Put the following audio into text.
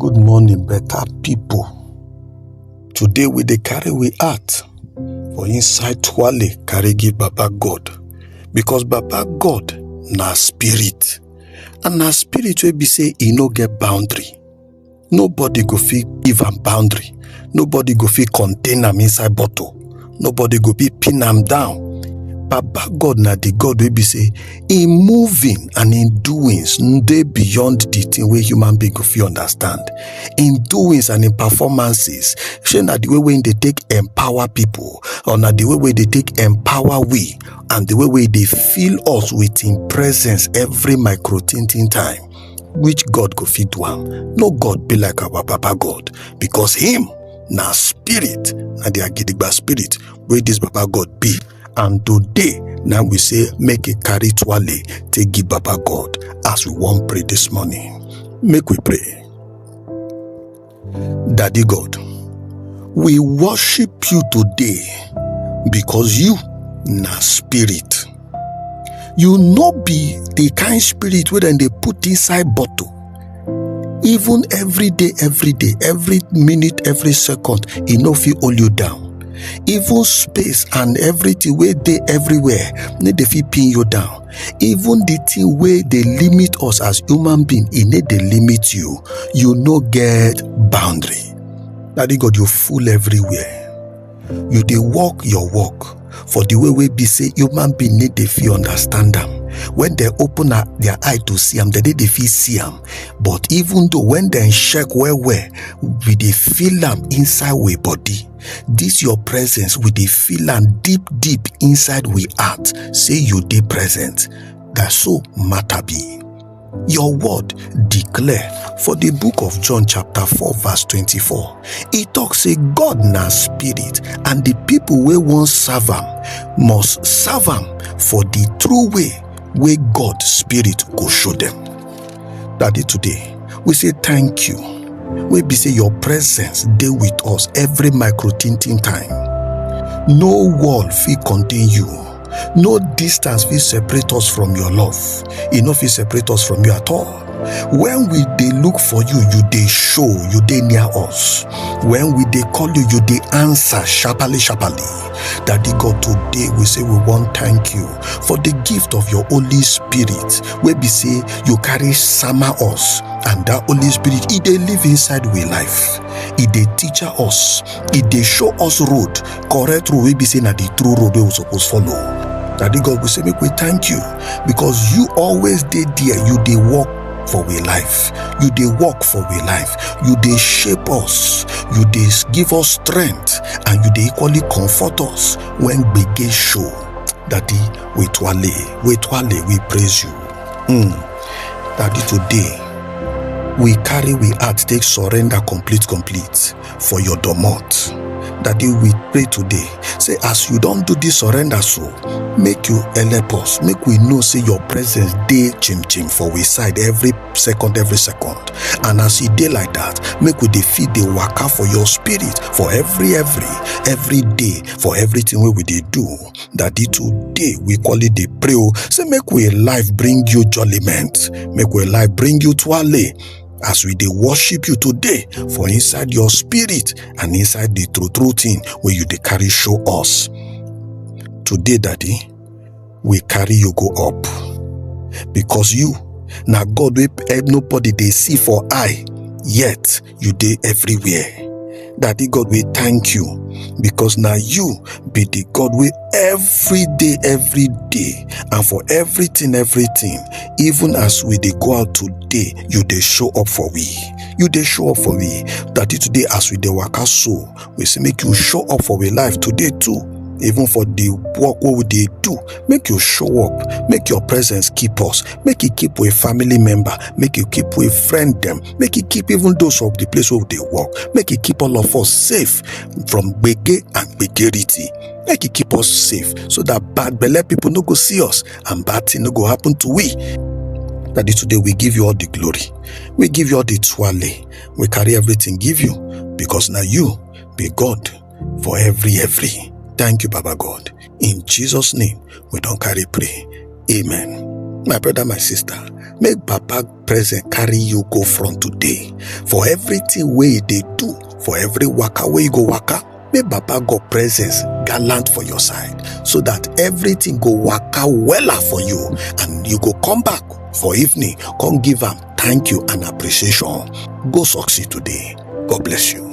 Good morning, better people. Today we dey carry we heart for inside twale carry give Baba God because Baba God na spirit and na spirit wey be say e no get boundary. Nobody go fit give am boundary. Nobody go fit contain am inside bottle. nobody go fit pin am down baba god na the god wey be say im moving and im doings dey beyond the thing wey human being go fit understand im doings and im performances shey na the way wey im dey take empower people or na the way wey dey take empower we and the way wey dey fill us with im presence every micro tintin time which god go fit do am no god be like our papa god because him na spirit na their gidigba spirit wey this baba god be and today na we say make e carry twale take give baba god as we wan pray this morning make we pray daddy god we worship you today because you na spirit you no be the kind spirit wey dem dey put inside bottle even every day every day every minute every second e no fit hold you down even space and everything wey dey everywhere no dey fit pin you down even the thing wey dey limit us as human being e no dey limit you you no get boundary daddy god you full everywhere you dey work your work for the way wey be say human being need dey fit understand am when dem open her- their eye to see am dem dey dey fit see am but even though when dem check well well we dey feel am inside we body this your presence we dey feel am deep deep inside we heart say you dey present na so matter be. Your word declare for the book of John chapter 4 verse 24. E talk say God na spirit and the people wey wan serve am must serve am for the true way wey God spirit go show them. Daddy today we say thank you wey be say your presence dey with us every micro tintin time. No wall fit contain you no distance fit separate us from your love e no fit separate us from you at all when we dey look for you you dey show you dey near us when we dey call you you dey answer sharply sharply daddy god today we say we wan thank you for the gift of your holy spirit wey be say you carry sama us and that holy spirit e dey live inside we life e dey teach us e dey show us road correct road wey be say na the true road wey we suppose follow daddy god we say make we thank you because you always dey there you dey work for we life you dey work for we life you dey shape us you dey give us strength and you dey equally comfort us when gbege show daddy we twale we twale we praise you mm. daddy today we carry we heart take surrender complete complete for your domot daddy we pray today say as you don do this surrender so make you help us make we know say your presence dey chim chim for we side every second every second and as e dey like that make we dey fit dey waka for your spirit for every every every day for everything wey we dey do daddy today we call it dey pray o say make we life bring you jollyment make we life bring you twale as we dey worship you today for inside your spirit and inside the true true thing wey you dey carry show us today daddy we carry you go up because you na god wey eh, nobody dey see for eye yet you dey everywhere Daddy God, we thank you because now you be the God we every day, every day, and for everything, everything. Even as we they go out today, you they show up for we. You they show up for we. Daddy today, as we they work out so, we say make you show up for we life today too. Even for the work what we they do, make you show up, make your presence keep us, make it keep with family member, make you keep with friend them, make e keep even those of the place wey we dey work make e keep all of us safe from gbege and gbegerity make e keep us safe so that bad belle people no go see us and bad thing no go happen to we Daddy, today we give you all the glory. We give you all the twale. We carry everything give you because now you be God for every every. Thank you, Baba God. In Jesus' name, we don't carry pray. Amen. My brother, my sister, make Papa presence carry you go from today for everything wey you dey do for every waka wey you go waka may baba god presence gallant for your side so that everything go waka wella for you and you go come back for evening come give am thank you and appreciation go succeed today god bless you